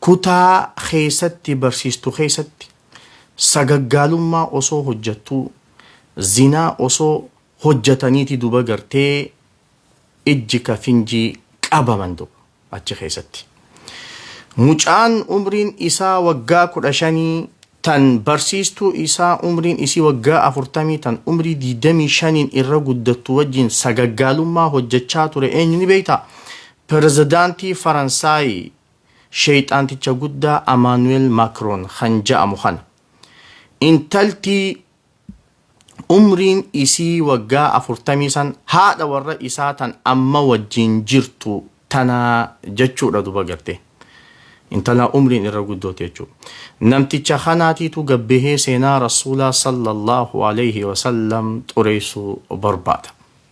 Kutaa keessatti barsiistu keessatti sagaggaalummaa osoo hojjattuu zinaa osoo hojjataniiti duba gartee ijji ka finjii qabaman duba achi keessatti. Mucaan umriin isaa waggaa kudha shanii tan barsiistuu isaa umriin isii waggaa afurtamii tan umrii diidamii shaniin irra guddattu wajjin sagaggaalummaa hojjachaa ture eenyu ni beektaa? Perezedaantii Faransaayi sheyxaanticha guddaa Amaanu'el Makroon kan ja'amu kana. Intalti umriin isii waggaa 40 san haadha warra isaa tan amma wajjiin jirtu tana jachuudha duba gartee. Intala umriin irra guddooti jechuu. Namticha kanaatiitu gad bahee seenaa Rasuulaa sallallaahu aleyhi wa sallam xureeysuu barbaada.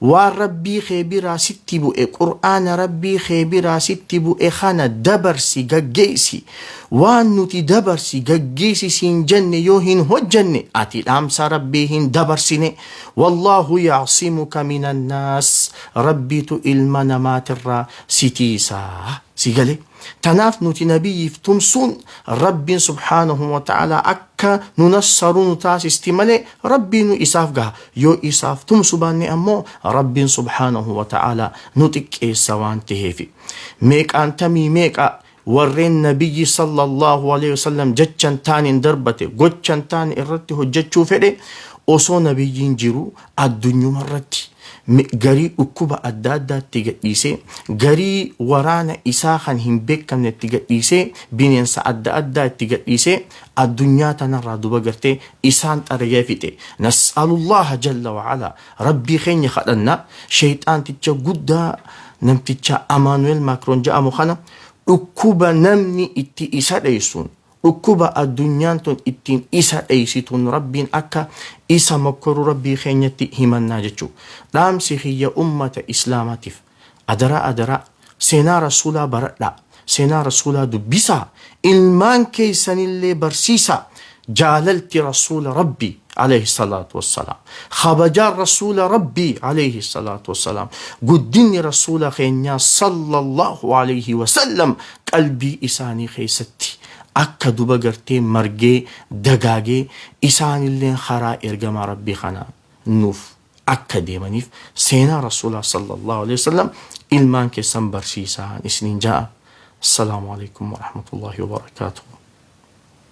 Waan Rabbii kee biraa sitti bu'e, Qur'aana Rabbii kee biraa sitti bu'e kana dabarsi, gaggeessi. Waan nuti dabarsi, gaggeessi siin jenne yoo hin hojjanne, ati dhaamsa Rabbii hin dabarsine. Wallaahu ya'simuka minan naas. Rabbiitu ilma namaatirraa si tiisa. Si galee? Tanaaf nuti Nabiyyiif tumsuun Rabbiin subhaanahu wa ta'aalaa akka nu nassaru nu taasisti malee Rabbiinu isaaf gaha. Yoo isaaf tumsu baanne ammoo Rabbiin subhaanahu wa ta'aalaa nu xiqqeessa waan taheefi. Meeqaan tamii meeqa warreen Nabiyyi sallallahu aleyhi wasallam jechan taaneen darbate gochan taane irratti hojjachuu fedhe osoo Nabiyyiin jiru Addunyuma irratti garii dhukkuba adda addaa itti gadhiisee, garii waraana isaa kan hin beekamne itti gadhiisee, bineensa adda addaa itti gadhiisee addunyaa tana irraa duba gartee isaan xarigee fixe. Nas'alullaaha jalla wa ala Rabbii keenya kadhanna sheyxaanticha guddaa namticha Amaanu'eel Maakroon ja'amu kana dhukkuba namni itti isa dheessuun Dhukkuba addunyaan tun ittiin isa dheeysituun Rabbiin akka isa mokkoru Rabbii keenyatti himannaa jechuu. Dhaamsi kiyya ummata Islaamaatif. Adaraa adaraa seenaa Rasuulaa baradhaa, seenaa Rasuulaa dubbisaa, ilmaan keeysanillee barsiisaa, jaalalti Rasuula Rabbii. Aleeyhi salaatu wassalaam. Khabajaan Rasuula Rabbii Aleeyhi salaatu wassalaam. Guddinni Rasuula keenyaa Sallallaahu Aleeyhi wasallam qalbii isaanii keessatti akka duba gartee margee dagaagee isaanilleen karaa ergamaa Rabbii kanaan nuuf akka deemaniif seenaa Rasuulaa Sallallaahu Aleeyhi wasallam ilmaan keessan barsiisaan isiniin ja'a. Assalaamu Aleeykum Warahmatullaahi Wabarakaatuhu.